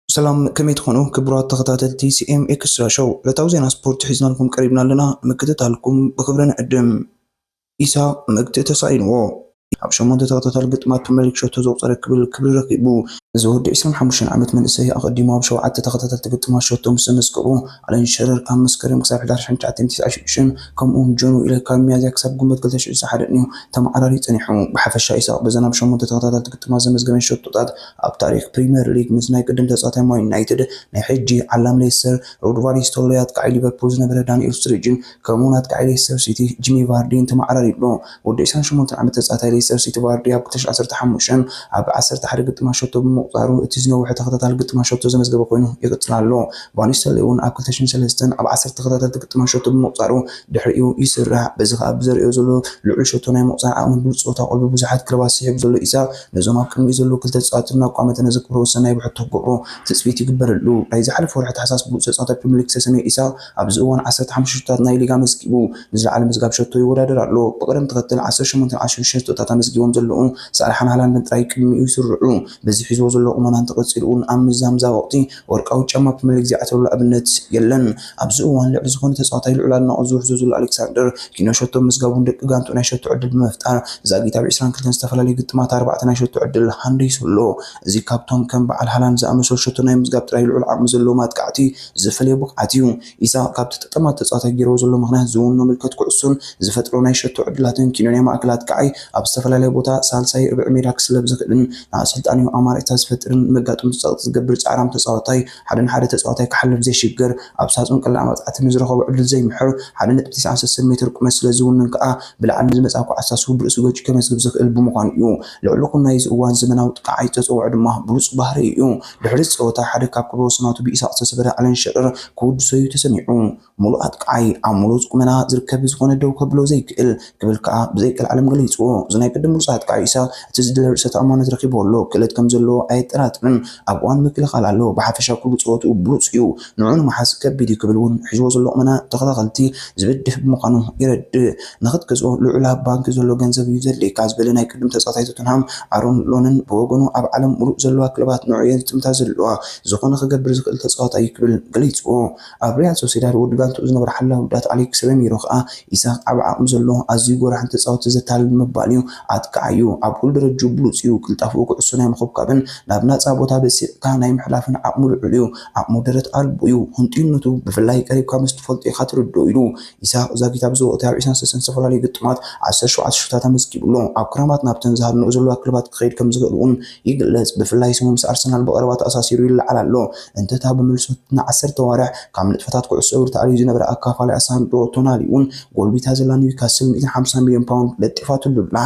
ሰላም ከመይ ትኾኑ ክቡራት ተኸታተልቲ ሲኤም ኤክስትራ ሾው ዕለታዊ ዜና ስፖርት ሒዝናልኩም ቀሪብና ኣለና ምክትታልኩም ብክብሪ ንዕድም ኢሳ መግትኢ ተሳኢንዎ ኣብ ሸሞንተ ተኸታታሊ ግጥማት ፕሪመር ሊግ ሸቶ ዘቑፀረ ክብል ክብሪ ረኪቡ። እዚ ወዲ ዕስራን ሓሙሽተን ዓመት መንእሰይ ኣቐዲሙ ኣብ ሸውዓተ ተኸታተልቲ ግጥማት ሸቶ ምስ ዘመዝገቡ፣ ኣለን ሸረር ካብ መስከረም ክሳብ ሕዳር ሽሕን ትሽዓተን ቲስዓን ሽዱሽተን ከምኡ ውን ጆን ዊለር ካብ ሚያዝያ ክሳብ ግንቦት ክልተ ሽሕን ዓሰርተ ሓደን ዩ ተመዓራርዩ ፀኒሑ። ብሓፈሻ ኢሳቕ በዘን ኣብ ሸሞንተ ተኸታተልቲ ግጥማት ዘመዝገበን ሸቶታት ኣብ ታሪኽ ፕሪመር ሊግ ምስ ናይ ቅድም ተፃዋታይ ማን ዩናይትድ፣ ናይ ሕጂ ዓላም ሌስተር ሮድ ቫን ኒስተልሮይ፣ ኣጥቃዓይ ሊቨርፑል ዝነበረ ዳኒኤል ስትሪጅን ከምኡ ናትካ ዒብ ሌስተር ሲቲ ጂሚ ቫርዲ እንተመዓራሪዩ'ሎ። ወዲ ዕስራን ሸሞንተን ዓመት ተጻዋታይ ሌስተር ሲቲ ቫርዲ ኣብ ክልተ ሽሕ ዓሰርተ ሓሙሽተ ኣብ ዓሰርተ ሓደ ግጥማት ሸቶ ብምቑጻሩ እቲ ዝነውሐ ተኸታታሊ ግጥማት ሸቶ ዘመዝገበ ኮይኑ ይቕጽል ኣሎ። ቫን ኒስተልሮይ'ውን ኣብ ክልተ ሽሕን ሰለስተን ኣብ ዓሰርተ ተኸታተልቲ ግጥማት ሸቶ ብምቑጻሩ ድሕሪኡ ይስራዕ። በዚ ከኣ ብዘርእዮ ዘሎ ልዑል ሸቶ ናይ ምቑጻር ዓቕሚ ብሉጽ ጸወታ ቀልቢ ብዙሓት ክለባት ስሒቡ ዘሎ ኢሳቕ ነዞም ኣብ ቅድሚኡ ዘለዉ ክልተ ተጻወቲ እናቋመ እቲ ነዚ ክብረወሰን ናይ ብሕቶ ክገብሮ ትጽቢት ይግበረሉ። ናይ ዝሓለፈ ወርሒ ታሕሳስ ብሉጽ ተጻዋታይ ፕሪመር ሊግ ዝተሰምየ ኢሳቕ፣ ኣብዚ እዋን ዓሰርተ ሓሙሽተ ሸቶታት ናይ ሊግ ኣመዝጊቡ ንዝለዓለ ምዝጋብ ሸቶ ይወዳደር ኣሎ። ብቕደም ተኸተል ዓሰርተ ሸሞንተን ዓሰርተ ሽዱሽተን ሸቶታት ኣመዝጊቦም ዘለዉ ሳላሕን ሃላንድን ጥራይ ቅድሚኡ ይስርዑ። በዚ ሒዝዎ ዘሎ ቁመና እንተቐጺሉ'ውን ኣብ ምዛምዛ ወቕቲ ወርቃዊ ጫማ ፕሪመር ሊግ ዘይዓትረሉ ኣብነት የለን። ኣብዚ እዋን ልዕሊ ዝኾነ ተጻዋታይ ልዑል ኣድናቖት ዝውሕዞ ዘሎ ኣሌክሳንደር ኪኖ ሸቶ ምምዝጋቡ ንደቂ ጋንትኡ ናይ ሸቶ ዕድል ብምፍጣር ዛጊት ኣብ ዕስራን ክልተን ዝተፈላለዩ ግጥማት ኣርባዕተ ናይ ሸቶ ዕድል ሃንዲሱ ኣሎ። እዚ ካብቶም ከም በዓል ሃላንድ ዝኣመሰሉ ሸቶ ናይ ምምዝጋብ ጥራይ ልዑል ዓቕሚ ዘለዎም ኣጥቃዕቲ ዘፈለዮ ብቕዓት እዩ። ኢሳቕ ካብቲ ጠማት ተጻዋታይ ገይርዎ ዘሎ ምኽንያት ዝውንኖ ምልከት ኩዕሶን ዝፈጥሮ ናይ ሸቶ ዕድላትን ኪኖንያ ማእከላት ከኣ'ዩ ኣብ ዝተፈላለየ ቦታ ሳልሳይ ርብዒ ሜዳ ክስለፍ ዝኽእልን ንኣሰልጣኒኡ ኣማራጺታት ዝፈጥርን መጋጥምቱ ጸቕጢ ዝገብር ጻዕራም ተጻዋታይ ሓደ ንሓደ ተጻዋታይ ክሓልፍ ዘይሽገር ኣብ ሳጹን ቀላዕ መቕጻዕቲ ንዝረኸቦ ዕድል ዘይምሕር ሓደ ነጥቢ ትስዓን ሰሰን ሜተር ቁመት ስለዝውንን ከኣ ብላዕሊ ንዝመጽኣ ኳዕሳ ስሁል ርእሱ ገጩ ከመዝግብ ዝኽእል ብምዃኑ'ዩ ልዕሊ ኩናይ እዚ እዋን ዘመናዊ ጥቃዓይ ተጸውዖ ድማ ብሉጽ ባህሪኡ'ዩ። ድሕሪ እቲ ጸወታ ሓደ ካብ ክብረ ወሰናቱ ብኢሳቕ ዝተሰበረ ኣለን ሸረር ከወድሶ'ዩ ተሰሚዑ። ምሉእ ኣጥቃዓይ፣ ኣብ ምሉጽ ቁመና ዝርከብ ብዝኾነ ደው ከብሎ ዘይክእል ክብል ከኣ ብዘይ ቀልዓለም ገሊጽዎ። እዚ ናይ ቅድም ምሉጽ ኣጥቃዓይ ኢሳቕ እቲ ዝድለ ርእሰ ተኣማንነት ረኺብዎ ኣሎ። ክእለት ከም ዘለዎ ኣየጠራጥርን። ኣብ እዋን ምክልኻል ኣሎ። ብሓፈሻ ኩሉ ጸወትኡ ብሉጽ'ዩ። ንዕኡ ንምሓዝ ከቢድ እዩ ክብል እውን ሒዝዎ ዘሎ ቁመና ተኸታተልቲ ዝብድህ ብምዃኑ የረድእ። ንኽትገዝኦ ልዑል ኣብ ባንኪ ዘሎ ገንዘብ እዩ ዘድልየካ ዝበለ ናይ ቅድም ተጻዋታይ ቶተንሃም ኣሮን ሎንን ብወገኑ ኣብ ዓለም ምሉእ ዘለዋ ክለባት ንዕኡ እየን ዝጥምታ ዘለዋ፣ ዝኾነ ክገብር ዝኽእል ተጻዋታይ እዩ ክብል ገሊጽዎ። ኣብ ሪያል ሶሴዳድ ወዲ ጋንትኡ ዝነበረ ሓላዊ ጉዳት ኣሌክስ ረሚሮ ከኣ ኢሳክ ዓቢ ዓቕሚ ዘለዎ ኣዝዩ ጎራሕን ተጻወቲ ዘታልልን ምባል እዩ። ኣጥቃዓይ እዩ፣ ኣብ ኩሉ ደረጅኡ ብሉጽ እዩ፣ ቅልጣፈኡ ኩዕሶ ናይ ምኹብካብን ናብ ናጻ ቦታ በሲዕካ ናይ ምሕላፍን ዓቕሙ ልዑል እዩ፣ ዓቕሙ ደረት ኣልቦ እዩ፣ ህንጡይነቱ ብፍላይ ቀሪብካ ምስ ትፈልጦ ኢኻ ትርድኦ ኢሉ። ኢሳቕ ዛጊት ኣብ ዝወቕቲ ኣብ ዒስራን ሰለስተን ዝተፈላለዩ ግጥማት ዓሰርተ ሸውዓተ ሽቶታት ኣመዝጊቡ ኣሎ። ኣብ ክራማት ናብተን ዝሃድንኦ ዘለዋ ክለባት ክኸይድ ከም ዝኽእል እውን ይግለጽ፣ ብፍላይ ስሙ ምስ ኣርሰናል ብቐረባ ተኣሳሲሩ ይለዓል ኣሎ። እንተ'ታ ብምልሶ ንዓሰርተ ኣዋርሕ ካብ ንጥፈታት ኩዕሶ እግሪ ተኣልዩ ዝነበረ ኣካፋላኣ ሳንድሮ ቶናሊ'ውን ጎልቢታ ዘላ ኒውካስል ሚእትን ሓምሳን ሚልዮን ፓውንድ ለጢፋትሉ ኣላ።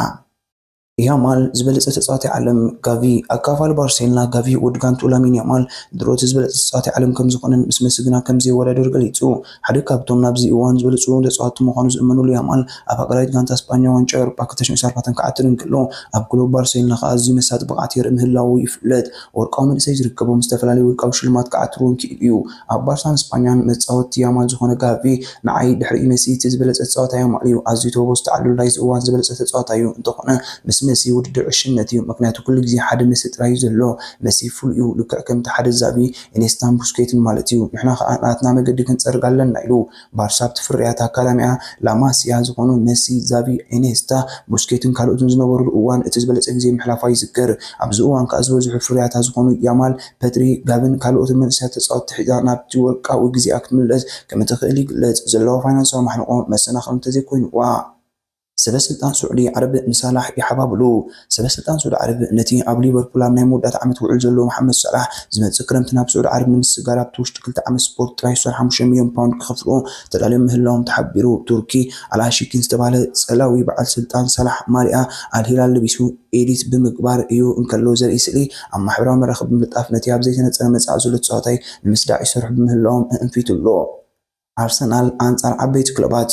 ያማል ዝበለፀ ተፃዋታይ ዓለም ጋቪ ኣካፋሊ ባርሴሎና ጋቪ ወዲ ጋንቱ ላሚን ያማል ድሮቲ ዝበለፀ ተፃዋታይ ዓለም ከምዝኾነን ምስ መሲ ግና ከምዘይወዳደር ገሊፁ። ሓደ ካብቶም ናብዚ እዋን ዝበለፁ ተፃወቲ ምዃኑ ዝእመነሉ ያማል ኣብ ሃገራዊት ጋንታ ስጳኛ ዋንጫ ኤውሮጳ ክልተ ሺህ ዓሰርተ ኣርባዕተ ክዓትር እንከሎ ኣብ ክለቡ ባርሴሎና ከዓ ኣዝዩ መሳጢ ብቕዓት የርኢ ምህላዉ ይፍለጥ። ወርቃዊ መንእሰይ ዝርከቦም ዝተፈላለዩ ውልቃዊ ሽልማት ክዓትር እውን ክኢሉ እዩ። ኣብ ባርሳን ስጳኛን መጻወቲ ያማል ዝኾነ ጋቪ፣ ንዓይ ድሕሪ መሲ እቲ ዝበለጸ ተጻዋታይ ያማል እዩ። ኣዝዩ ተበግሶ ተዓሊሉ ናይዚ እዋን ዝበለጸ ተጻዋታይ እዩ። እንተኾነ ምስ መሲ ውድድር ዕሽነት እዩ፣ ምኽንያቱ ኩሉ ግዜ ሓደ መሲ ጥራይ እዩ ዘሎ። መሲ ፍሉይ እዩ፣ ልክዕ ከምቲ ሓደ ዛቪ፣ ኢኔስታን ቡስኬትን ማለት እዩ። ንሕና ከኣ ናትና መገዲ ክንጸርግ ኣለና ኢሉ። ባርሳ ኣብቲ ፍርያት ኣካዳሚኣ ላ ማሲያ ዝኾኑ መሲ፣ ዛቪ፣ ኢኔስታ፣ ቡስኬትን ካልኦትን ዝነበሩሉ እዋን እቲ ዝበለጸ ግዜ ምሕላፋ ይዝከር። ኣብዚ እዋን ከኣ ዝበዝሑ ፍርያታ ዝኾኑ ያማል፣ ፐድሪ፣ ጋቪን ካልኦትን መንእሰያት ተጻወትቲ ሒዛ ናብቲ ወርቃዊ ግዜኣ ክትምለስ ከምእትኽእል ይግለጽ። ዘለዋ ፋይናንሳዊ ማሕንቖ መሰናኽል እንተዘይኮይኑዋ። ሰበ ስልጣን ስዑዲ ዓረብ ንሳላሕ ይሓባብሉ። ሰበ ስልጣን ስዑዲ ዓረብ ነቲ ኣብ ሊቨርፑል ኣብ ናይ መወዳእታ ዓመት ውዑል ዘሎ መሓመድ ሳላሕ፣ ዝመጽእ ክረምቲ ናብ ስዑዲ ዓረብ ንምስግጋር ኣብቲ ውሽጢ ክልተ ዓመት ስፖርት ጥራይ ዝሰርሖ ሓሙሽተ ሚልዮን ፓውንድ ክኸፍልዎ ተዳልዮም ምህላዎም ተሓቢሩ። ቱርኪ ኣል-ኣሺኪን ዝተባህለ ጸላዊ በዓል ስልጣን ሳላሕ ማልያ ኣል-ሂላል ለቢሱ ኤዲት ብምግባር እዩ እንከሎ ዘርኢ ስእሊ ኣብ ማሕበራዊ መራኸቢ ብምልጣፍ ነቲ ኣብ ዘይተነጸረ መጻኢ ዘሎ ተጻዋታይ ንምስዳዕ ይሰርሑ ብምህላዎም እእንፊቱ'ሎ። ኣርሰናል ኣንጻር ዓበይቲ ክለባት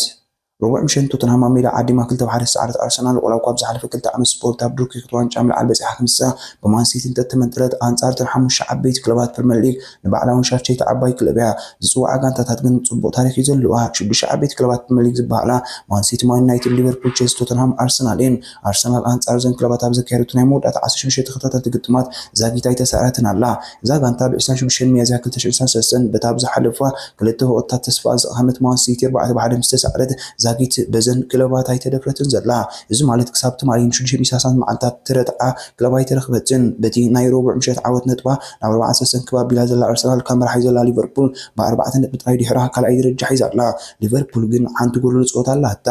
ረቡዕ ምሸት ንቶተንሃም ኣብ ሜዳ ዓዲማ ክልተ ብ ሓደ ዝሰዓረት ኣርሰናል ዋላ እኳ ኣብ ዝሓለፈ ክልተ ዓመት ስፖርት ኣብ ዱርኪ ክብሪ ዋንጫ ምልዓል በጺሓ ክንሳ ብማን ሲቲ እንተተመንጠለት ኣንጻር እተን ሓሙሽተ ዓበይቲ ክለባት ፕሪመር ሊግ ንባዕላውን ሻፍቸይቲ ዓባይ ክለብ እያ ዝጽውዓ ጋንታታት ግን ጽቡቕ ታሪኽ እዩ ዘለዋ ሽዱሽተ ዓበይቲ ክለባት ፕሪመር ሊግ ዝበሃላ ማን ሲቲ ማን ዩናይትድ ሊቨርፑል ቸልሲ ቶተንሃም ኣርሰናል እየን ኣርሰናል ኣንጻር እዘን ክለባት ኣብ ዘካየደቶ ናይ መወዳእታ ዓሰርተ ሽዱሽተ ተኸታተልቲ ግጥማት ዛጊት ኣይተሳእረትን ኣላ። እዛ ጋንታ ብ ዕስራን ሽዱሽተን ሚያዝያ ክልተ ሽሕን ዕስራን ሰለስተን በታ ኣብ ዝሓለፋ ክልተ ወቕትታት ተስፋኣ ዝቐሃመት ማን ሲቲ ኣርባዕተ ብ ሓደ ምስ ተሳእረት ዛጊት በዘን ክለባት ኣይተደፍረትን ዘላ። እዚ ማለት ክሳብ ትማሊ ን ሽዱሽተ ሚሳሳት መዓልታት ትረትዓ ክለብ ኣይተረኽበትን። በቲ ናይ ረቡዕ ምሸት ዓወት ነጥባ ናብ ኣርባዓን ሰለስተን ክብ ኣቢላ ዘላ ኣርሰናል ካብ መራሒት ዘላ ሊቨርፑል ብ ኣርባዕተ ነጥቢ ጥራይ ድሒራ ካልኣይ ደረጃ ሒዛ ኣላ። ሊቨርፑል ግን ሓንቲ ጎደሎ ጸወታ ኣላታ።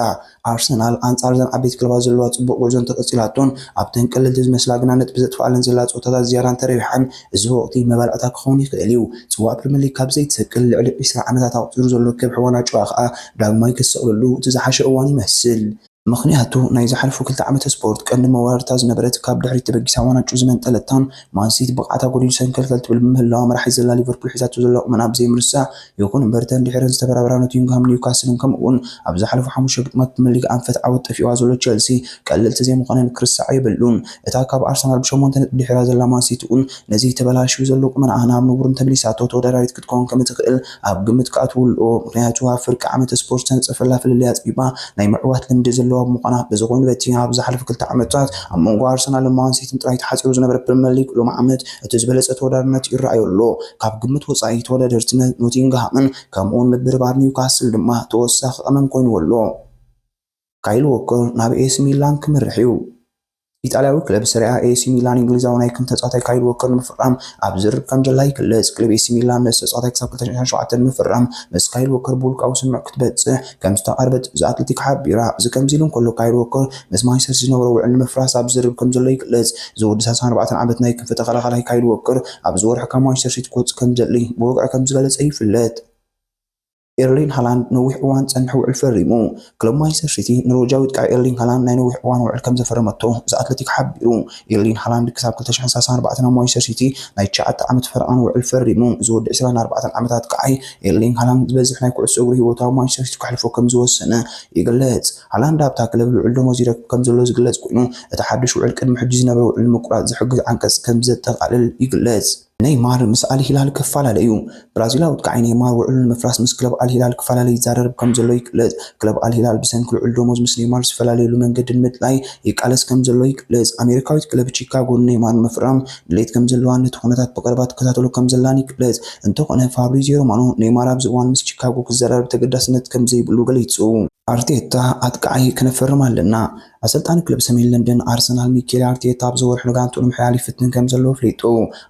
ኣርሰናል ኣንጻር እዘን ዓበይቲ ክለባት ዘለዋ ጽቡቕ ጉዕዞ እንተቐጺላቶን ኣብተን ቀለልቲ ዝመስላ ግና ነጥቢ ዘጥፍኣለን ዘላ ጸወታታት ዝያዳ እንተረቢሓን እዚ ወቕቲ መባልዕታ ክኸውን ይኽእል'ዩ። ጽዋእ ፕሪመርሊግ ካብ ዘይትሰቅል ልዕሊ ዕስራ ዓመታት ኣቑጺሩ ዘሎ ከብሒ ዋናጩዋ ከኣ ዳግማይ ክትሰቕለሉ እቲ ዝሓሸ እዋን ይመስል። ምኽንያቱ ናይ ዝሓለፉ ክልተ ዓመተ ስፖርት ቀንዲ መወዳድርታ ዝነበረት ካብ ድሕሪት ተበጊሳ ዋናጩ ዝመንጠለታን ማንሲቲ ብቕዓታ ጎዲሉ ሰንከልከል ትብል ብምህላዋ መራሒት ዘላ ሊቨርፑል ሒዛቶ ዘላ ቁመና ብዘይምርሳዕ ይኹን እምበር እተን ድሒረን ዝተበራበራ ኖቲንግሃምን ኒውካስልን ከምኡ'ውን ኣብ ዝሓለፉ ሓሙሽተ ግጥማት ፕሪመር ሊግ ኣንፈት ዓወት ጠፊእዋ ዘሎ ቸልሲ ቀለልቲ ዘይምዃነን ክርሳዕ የብሉን። እታ ካብ ኣርሰናል ብሸሞንተ ነጥቢ ድሒራ ዘላ ማን ሲቲ'ውን ነዚ ተበላሽዩ ዘሎ ቁመናኣ ናብ ንቡርን ተመሊሳቶ ተወዳዳሪት ክትከውን ከምእትኽእል ኣብ ግምት ክኣትው ኣለዎ። ምኽንያቱ ኣብ ፍርቂ ዓመተ ስፖርት ዝተነጸፈላ ፍልልይ ኣጽቢባ ናይ ምዕዋት ልምዲ ዘለዋ ብምዃና። እዚ ኮይኑ በቲ ኣብ ዝሓለፉ ክልተ ዓመታት ኣብ መንጎ ኣርሰናልን ማን ሲቲን ጥራይ ተሓጺሩ ዝነበረ ፕሪመር ሊግ ሎሚ ዓመት እቲ ዝበለጸ ተወዳዳርነት ይረኣዮ ኣሎ። ካብ ግምት ወጻኢ ተወዳደርቲ ኖቲንግሃምን ከምኡ'ውን ምብርባር ኒውካስል ድማ ተወሳኺ ቀመም ኮይንዎ ኣሎ። ካይል ዎከር ናብ ኤሲ ሚላን ክምርሕ'ዩ። ኢጣልያዊ ክለብ ሰሪኣ ኤሲ ሚላን እንግሊዛዊ ናይ ክንፍ ተጻዋታይ ካይል ዎከር ንምፍራም ኣብ ዝርርብ ከምዘላ ይግለጽ። ክለብ ኤሲ ሚላን ነዚ ተጻዋታይ ክሳብ ክልተ ሽሕን ሸውዓተን ንምፍራም ምስ ካይል ዎከር ብውልቃዊ ስምምዕ ክትበጽሕ ከም ዝተቓረበት እዛ ኣትለቲክ ሓቢራ። እዚ ከምዚ ኢሉ እንከሎ ካይል ዎከር ምስ ማንቸስተር ሲቲ ዝነበሮ ውዕል ንምፍራስ ኣብ ዝርርብ ከም ዘሎ ይግለጽ። እዚ ወዲ ሰላሳን ኣርባዕተን ዓመት ናይ ክንፊ ተኸላኻላይ ካይል ዎከር ኣብዚ ወርሒ ካብ ማንቸስተር ሲቲ ክወጽእ ከም ዝደሊ ብወግዒ ከም ዝገለጸ ይፍለጥ። ኤርሊንግ ሃላንድ ነዊሕ እዋን ዝጸንሐ ውዕል ፈሪሙ። ክለብ ማንቸስተር ሲቲ ኖርወጃዊ ኣጥቃዒ ኤርሊንግ ሃላንድ ናይ ነዊሕ እዋን ውዕል ከም ዘፈረመቶ እዛ ኣትለቲክ ሓቢሩ። ኤርሊን ሃላንድ ክሳብ ክልተ ሽሕን ሰለሳን ኣርባዕተን ኣብ ማንቸስተር ሲቲ ናይ ትሽዓተ ዓመት ፈረቓን ውዕል ፈሪሙ። እዚ ወዲ ዕስራን ኣርባዕተን ዓመታት ከኣ'ዩ ኤርሊንግ ሃላንድ ዝበዝሕ ናይ ኩዕሶ እግሪ ህይወቱ ኣብ ማንቸስተር ሲቲ ከሕልፎ ከም ዝወሰነ ይግለጽ። ሃላንድ ኣብታ ክለብ ልዑል ደሞዝ ይረክብ ከም ዘሎ ዝግለጽ ኮይኑ፣ እቲ ሓድሽ ውዕል ቅድሚ ሕጂ ዝነበረ ውዕል ንምቁራጽ ዝሕግዝ ዓንቀጽ ከም ዘጠቓልል ይግለጽ። ነይማር ምስ ኣል ሂላል ክፋላለ እዩ። ብራዚላዊ ኣጥቃዓይ ነይማር ውዕሉ ንምፍራስ ምስ ክለብ ኣል ሂላል ክፋላለ ይዛረርብ ከምዘሎ ይግለጽ። ክለብ ኣል ሂላል ብሰንኪ ልዑል ደሞዝ ምስ ነይማር ዝፈላለየሉ መንገዲ ንምድላይ ይቃለስ ከምዘሎ ይግለጽ። ኣሜሪካዊት ክለብ ቺካጎ ንነይማር ንምፍራም ድሌት ከምዘለዋን ነቲ ኩነታት ብቐረባ ትከታተሎ ከምዘላን ይግለጽ። እንተኾነ ፋብሪዝዮ ሮማኖ ነይማር ኣብዚ እዋን ምስ ቺካጎ ክዘራረብ ተገዳስነት ከምዘይብሉ ገሊጹ። ኣርቴታ ኣጥቃዓይ ክነፈርም ኣለና። ኣሰልጣኒ ክለብ ሰሜን ለንደን ኣርሰናል ሚኬል ኣርቴታ ኣብዚ ወርሒ ንጋንትኡ ንምሕያል ይፍትን ከምዘሎ ኣፍሊጡ።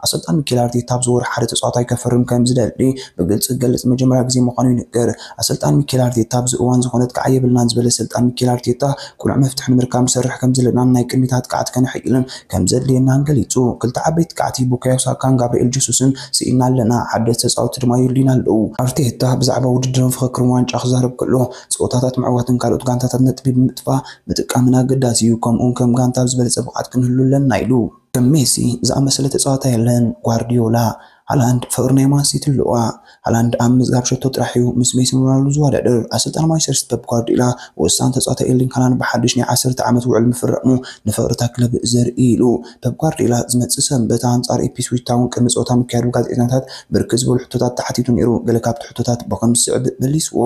ኣሰልጣኒ ሚኬል ኣርቴታ ኣብዚ ወርሒ ሓደ ተጻዋታይ ከፍርም ከምዝደሊ ብግልጺ ክገልጽ ንመጀመርያ ግዜ ምዃኑ ይንገር። ኣሰልጣኒ ሚኬል ኣርቴታ ኣብዚ እዋን ዝኾነት ክዓ የብልናን ዝበለ ኣሰልጣኒ ሚኬል ኣርቴታ ቅኑዕ መፍትሒ ንምርካብ ንሰርሕ ከምዘለናን ናይ ቅድሚት ኣጥቃዕቲ ከነሐይልን ከምዘድልየናን ገሊጹ። ክልተ ዓበይቲ ኣጥቃዕቲ ቡካዮ ሳካን ጋብሪኤል ጀሱስን ስኢንና ኣለና፣ ሓደስቲ ተጻወትቲ ድማ የድልዩና ኣለዉ። ኣርቴታ ብዛዕባ ውድድርን ፍኽክርን ዋንጫ ክዛረብ ከሎ ጸወታታት ምዕዋትን ካልኦት ጋንታታት ነጥቢ ብምጥፋ ምጥቃምን ኣገዳሲ እዩ፣ ከምኡ'ውን ከም ጋንታ ኣብ ዝበለጸ ብቕዓት ክንህሉ ኣለና ኢሉ። ከም ሜሲ ዝኣመሰለ ተጻዋታይ የለን፣ ጓርድዮላ። ሃላንድ ፍቕሪ ናይ ማን ሲቲ ኣለዋ። ሃላንድ ኣብ ምምዝጋብ ሸቶ ጥራሕ እዩ ምስ ሜሲን ሮናልዶን ዝወዳደር። ኣሰልጣኒ ማንቸስተር ሲቲ ፐፕ ጓርድዮላ ወሳኒ ተጻዋታይ ኤርሊንግ ሃላንድ ብሓድሽ ናይ ዓሰርተ ዓመት ውዕል ምፍራሙ ንፍቕሪ እታ ክለብ ዘርኢ'ዩ ኢሉ። ፐፕ ጓርድዮላ ዝመጽእ ሰንበት ኣንጻር ኢፕስዊች ታውን ቅድሚ ጸወታ ምክያዱ ብጋዜጠኛታት ብርክት ዝበሉ ሕቶታት ተሓቲቱ ነይሩ። ገለ ካብቲ ሕቶታት ብኸምዚ ዝስዕብ መሊስዎ፣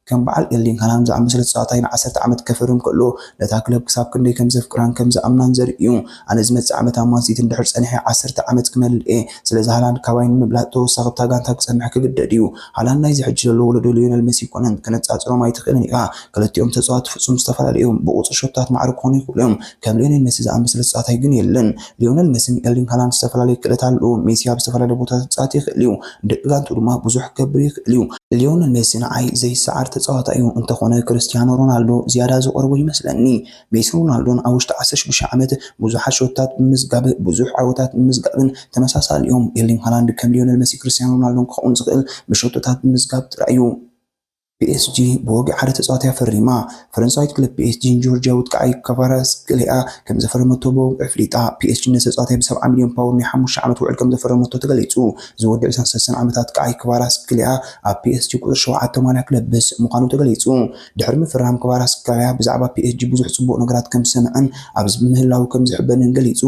ከም በዓል ኤርሊንግ ሃላንድ ዝኣመሰለ ተጻዋታይ ንዓሰርተ ዓመት ከፈርም ከሎ ነታ ክለብ ክሳብ ክንደይ ከም ዘፍቅራን ከም ዝኣምናን ዘርኢ'ዩ። ኣነ ዝመጽእ ዓመት ኣብ ማን ሲቲ እንድሕር ጸኒሐ ዓሰርተ ዓመት ክመልእ'የ፣ ስለዚ ሃላንድ ካባይ ንምብላጽ ተወሳኺ ኣብታ ጋንታ ክጸንሕ ክግደድ'ዩ። ሃላንድ ናይዚ ሕጂ ዘሎ ወለዶ ልዮነል መሲ ኣይኰነን፣ ከነጻጽሮም ኣይትኽእልን ኢኻ፣ ክልቲኦም ተጻወትቲ ፍጹም ዝተፈላለዩ እዮም፣ ብቑጽሪ ሸቶታት ማዕረ ክዀኑ ይኽእሉ እዮም፣ ከም ሊዮኔል ሜሲ ዝኣመሰለ ተጻዋታይ ግን የለን። ሊዮኔል ሜሲን ኤርሊንግ ሃላንድ ዝተፈላለየ ክእለት ኣለዎም። ሜሲ ኣብ ዝተፈላለየ ቦታታት ክጻወት ይኽእል እዩ፣ ንደቂ ጋንትኡ ድማ ብዙሕ ክገብር ይኽእል እዩ። ሊዮኔል ሜሲ ንዓይ ዘይሰዓር ተጻዋታይ እዩ፣ እንተኾነ ክርስትያኖ ሮናልዶ ዝያዳ ዝቐርቦ ይመስለኒ። ሜሲን ሮናልዶን ኣብ ውሽጢ ዓሰርተ ሽዱሽተ ዓመት ብዙሓት ሸቶታት ብምምዝጋብ ብዙሕ ዓወታት ብምምዝጋብን ተመሳሳሊ እዮም። ኤርሊንግ ሃላንድ ከም ሊዮኔል ሜሲን ክርስትያኖ ሮናልዶን ክኸውን ዝኽእል ብሸቶታት ብምምዝጋብ ጥራይ እዩ። ፒኤስጂ ብወግዒ ሓደ ተጻዋታይ ፈሪማ። ፈረንሳዊት ክለብ ፒኤስጂ ንጆርጅያዊት ቀያይ ክቫራትስክሊያ ከም ዘፈረመቶ ብወግዒ ኣፍሊጣ። ፒኤስጂ ነዚ ተጻዋታይ ብ ሰብዓ ሚልዮን ፓውሮ ናይ ሓሙሽተ ዓመት ውዕል ከም ዘፈረመቶ ተገሊጹ። እዚ ወዲ ዕስራን ሰለስተን ዓመታት ቀያይ ክቫራትስክሊያ ኣብ ፒኤስጂ ቁጽሪ ሸውዓተ ማልያ ክለብ ምስ ምዃኑ ተገሊጹ። ድሕሪ ምፍራም ክቫራትስክሊያ ብዛዕባ ፒኤስጂ ብዙሕ ጽቡቕ ነገራት ከም ዝሰምዐን ኣብዚ ብምህላዉ ከም ዝሕበንን ገሊጹ።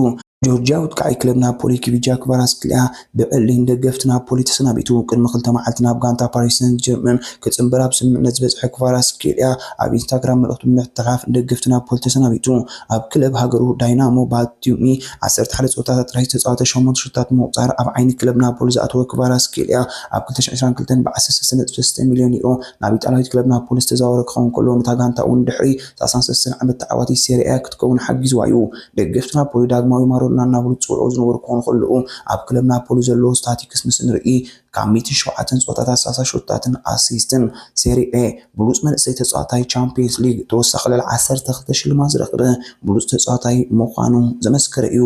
ጆርጅያዊ ኣጥቃዓይ ክለብ ናፖሊ ኪቪቻ ክቫራትስክሊያ ብዕሊን ደገፍቲ ናፖሊ ተሰናቢቱ ቅድሚ ክልተ መዓልቲ ናብ ጋንታ ፓሪስ ሰንት ጀርመን ክጽንበር ኣብ ስምምዕነት ዝበጽሐ ክቫራትስክሊያ ኣብ ኢንስታግራም መልእኽቱ ብምሕትሓፍ ንደገፍቲ ናፖሊ ተሰናቢቱ ኣብ ክለብ ሃገሩ ዳይናሞ ባቲዩሚ ዓሰርተ ሓደ ጸወታታት ጥራይ ዝተጻወተ ሸሞንተ ሹታት ብምቑጻር ኣብ ዓይኒ ክለብ ናፖሊ ዝኣተወ ክቫራትስክሊያ ኣብ ክልተ ሽሕ ዕስራን ክልተን ብ ዓሰርተ ሰለስተ ነጥቢ ሰለስተ ሚልዮን ዩሮ ናብ ኢጣልያዊት ክለብ ናፖሊ ዝተዛወረ ክኸውን ከሎ ነታ ጋንታ'ውን ድሕሪ ሰላሳን ሰለስተን ዓመት ተዓዋቲት ሴሪኤ ክትከውን ሓጊዝዋ'ዩ። ደገፍቲ ናፖሊ ዳግማዊ ማሮዶና እናበሉ ዝጽውዕዎ ዝነበሩ ክኾኑ ከለዉ፣ ኣብ ክለብ ናፖሊ ዘለዎ ስታቲክስ ምስ ንርኢ ካብ ሚእትን ሸውዓተን ጸወታታት ሳሳ ሸቶታትን ኣሲስትን፣ ሴሪኤ፣ ብሉጽ መንእሰይ ተጻዋታይ፣ ቻምፕዮንስ ሊግ፣ ተወሳኺ ልዕሊ ዓሰርተ ክልተ ሽልማት ዝረኽበ ብሉጽ ተጻዋታይ ምዃኑ ዘመስከረ እዩ።